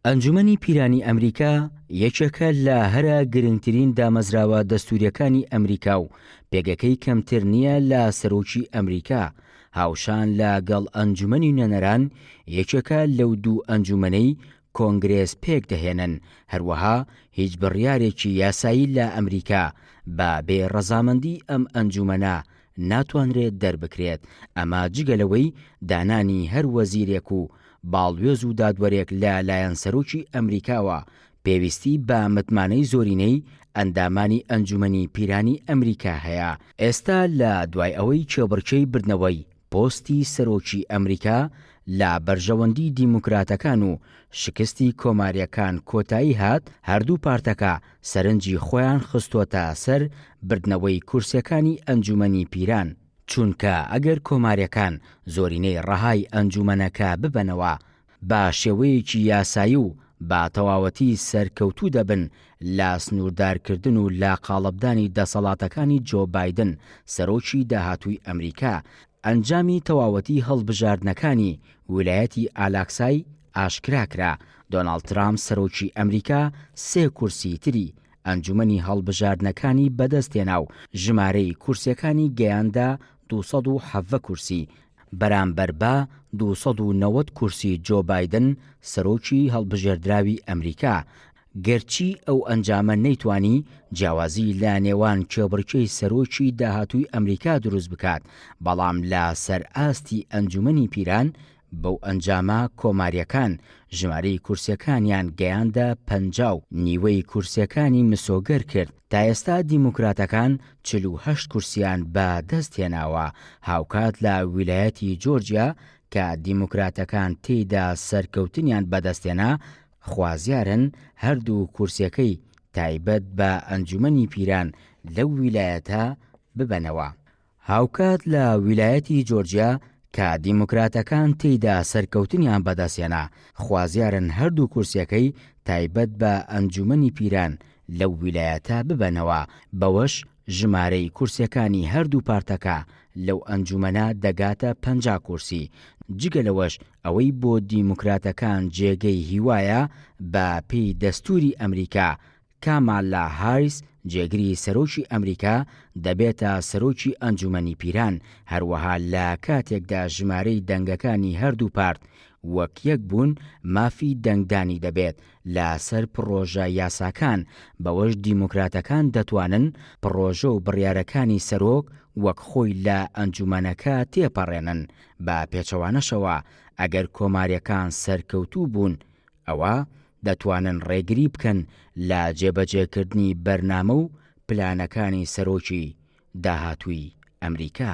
ئەنجومەنی پیرانی ئەمریکا یەکێکە لە هەرە گرنگترین دامەزراوە دەستوریەکانی ئەمریکا و پێگەکەی کەمتر نییە لە سەرۆکی ئەمریکا هاوشان لە گەڵ ئەنجومەنی نەنەران یەکێکە لەو دوو ئەنجومەنەی کۆنگرێس پێک دەهێنن هەروەها هیچ بڕیارێکی یاسایی لە ئەمریکا بە بێ ڕەزامەندی ئەم ئەنجومەنە ناتوانرێت دەربکرێت، ئەمە جگە لەوەی دانانی هەر وەزیرێک و باڵوێز و دادوەرێک لە لایەن سەرۆکی ئەمریکاوە پێویستی بە متمانەی زۆرینەی ئەندامانی ئەنجومەنی پیرانی ئەمریکا هەیە، ئێستا لە دوای ئەوەی کێبڕکێی بردنەوەی پۆستی سەرۆکی ئەمریکا لە بەرژەوەندی دیموکراتەکان و شکستی کۆماریەکان کۆتایی هات، هەردوو پارتەکە سەرنجی خۆیان خستۆتە سەر بردنەوەی کورسیەکانی ئەنجومەنی پیران، چونکە ئەگەر کۆماریەکان زۆرینەی ڕەهای ئەنجومەنەکە ببەنەوە بە شێوەیەکی یاسایی و بە تەواوەتی سەرکەوتوو دەبن لە سنوردارکردن و لە قاڵبدانی دەسەڵاتەکانی جۆ بایدن سەرۆکی داهاتووی ئەمریکا، ئەنجامی تەواوەتی هەڵبژاردنەکانی ویلایەتی ئالاکسای ئاشکرا کرا، دۆناڵد ترامپ سەرۆکی ئەمریکا سێ کورسی تری ئەنجومەنی هەڵبژاردنەکانی بەدەستهێنا و ژمارەی کورسیەکانی گەیاندە دوو سەد و حەڤە کورسی بەرامبەر بە دوو سەد و نەوەد کورسی جۆ بایدن سەرۆکی هەڵبژێردراوی ئەمریکا، گەرچی ئەو ئەنجامە نەیتوانی جیاوازی لە نێوان کێبڕکێی سەرۆکی داهاتووی ئەمریکا دروست بکات، بەڵام لە سەر ئاستی ئەنجومەنی پیران بەو ئەنجامە کۆماریەکان ژمارەی کورسیەکانیان گەیاندە پەنجا و نیوەی کورسیەکانی مسۆگەر کرد، تا ئێستا دیموکراتەکان چل و هەشت کورسیان بە دەست هێناوە، هاوکات لە ویلایەتی جۆرجیا کە دیموکراتەکان تێیدا سەرکەوتنیان بەدەستهێنا، خوازیارن هەردوو کورسیەکەی تایبەت بە ئەنجومەنی پیران لەو ویلایەتە ببەنەوە. هاوکات لە ویلایەتی جۆرجیا کە دیموکراتەکان تێیدا سەرکەوتنیان بەدەستهێنا، خوازیارن هەردوو کورسیەکەی تایبەت بە ئەنجومەنی پیران لەو ویلایەتە ببەنەوە، بەوەش ژمارەی کورسیەکانی هەردوو پارتەکە لەو ئەنجومەنە دەگاتە پەنجا کورسی، جگە لەوەش ئەوەی بۆ دیموکراتەکان جێگەی هیوایە بە پێی دەستوری ئەمریکا کامالا هاریس، جێگری سەرۆکی ئەمریکا، دەبێتە سەرۆکی ئەنجومەنی پیران، هەروەها لە کاتێکدا ژمارەی دەنگەکانی هەردوو پارت وەک یەک بوون، مافی دەنگدانی دەبێت لەسەر پڕۆژە یاساکان، بەوەش دیموکراتەکان دەتوانن پڕۆژە و بڕیارەکانی سەرۆک وەک خۆی لە ئەنجومەنەکە تێپەڕێنن، بە پێچەوانەشەوە ئەگەر کۆماریەکان سەرکەوتوو بوون ئەوا دەتوانن ڕێگری بکەن لە جێبەجێکردنی بەرنامە و پلانەکانی سەرۆکی داهاتووی ئەمریکا.